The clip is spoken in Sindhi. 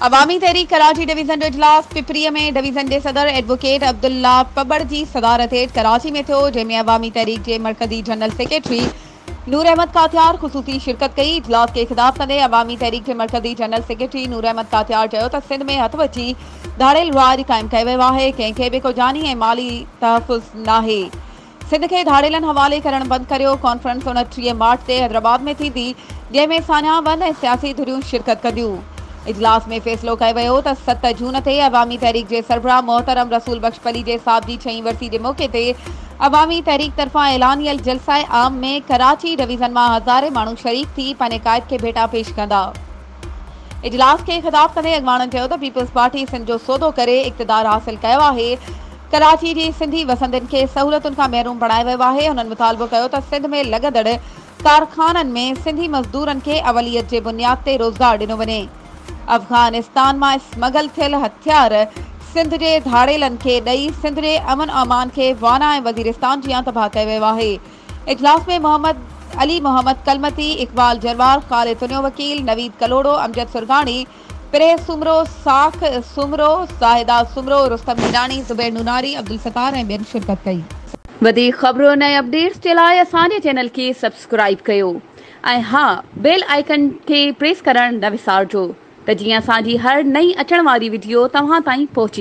عوامي تحريڪ ڪراچي ڊويزن جو اجلاس پپريء ۾ ڊويزن جي صدر ايڊووڪيٽ عبدالله پٻڙ جي صدارت هيٺ ڪراچي ۾ ٿيو جنهن ۾ عوامي تحريڪ جي مرڪزي جنرل سيڪريٽري نور احمد ڪاٿيار خصوصي شرڪت ڪئي اجلاس کي خطاب ڪندي عوامي تحريڪ جي مرڪزي جنرل سيڪريٽري نور احمد ڪاٿيار چيو ته سنڌ ۾ هٿ وچي ڌاڙيل راڄ قائم ڪيو ويو آهي ڪنهن کي به ڪو جاني ۽ مالي تحفظ ناهي سنڌ کي ڌاڙيلن حوالي ڪرڻ بند ڪريو، ڪانفرنس اوڻٽيهه مارچ تي حيدرآباد ۾ ٿيندي، جنهن ۾ ساڃاهه بند ۽ سياسي ڌريون شرڪت ڪنديون. اجلاس ۾ فيصلو ڪيو ويو ته ست جون تي عوامي تحريڪ جي سربراهه محترم رسول بخش پليجي صاحب جي ڇهين ورسي جي موقعي تي عوامي تحريڪ طرفان اعلانيل جلسه عام ۾ ڪراچي ڊويزن مان هزارين ماڻهو شريڪ ٿي پنهنجي قائد کي ڀيٽا پيش ڪندا. اجلاس کي خطاب ڪندي اڳواڻن چيو ته پيپلز پارٽي سنڌ جو سودو ڪري اقتدار حاصل ڪيو آهي، ڪراچي جي سنڌي وسندين کي سهولتن کان محروم بڻايو ويو آهي، هنن مطالبو ڪيو ته سنڌ ۾ لڳندڙ ڪارخانن ۾ سنڌي مزدورن کي اوليت جي بنياد تي روزگار ڏنو وڃي، افغانستان مان اسمگل ٿيل هٿيار سنڌ جي ڌاڙيلن کي ڏئي سنڌ جي امن امان کي وانا ۽ وزيرستان جيان تباهه ڪيو ويو آهي. اجلاس ۾ محمد علي محمد ڪلمتي، اقبال جروار، قاري تنيو وڪيل، نويد ڪلهوڙو، امجد سرگاڻي، پرهه سومرو، ساک سومرو، زاهده سومرو، رستم هيڏاڻي، زبير نوناري، عبدالستار ۽ ٻين شرڪت ڪئي. وڌيڪ خبرن ۽ اپڊيٽس جي لاء اسان جي چينل کي سبسڪرائيب ڪيو ۽ ها بيل آئيڪن کي پريس ڪرڻ نه وسارجو ته جيئن اسان جي هر نئين اچڻ واري وڊيو توهان تائين پهچي.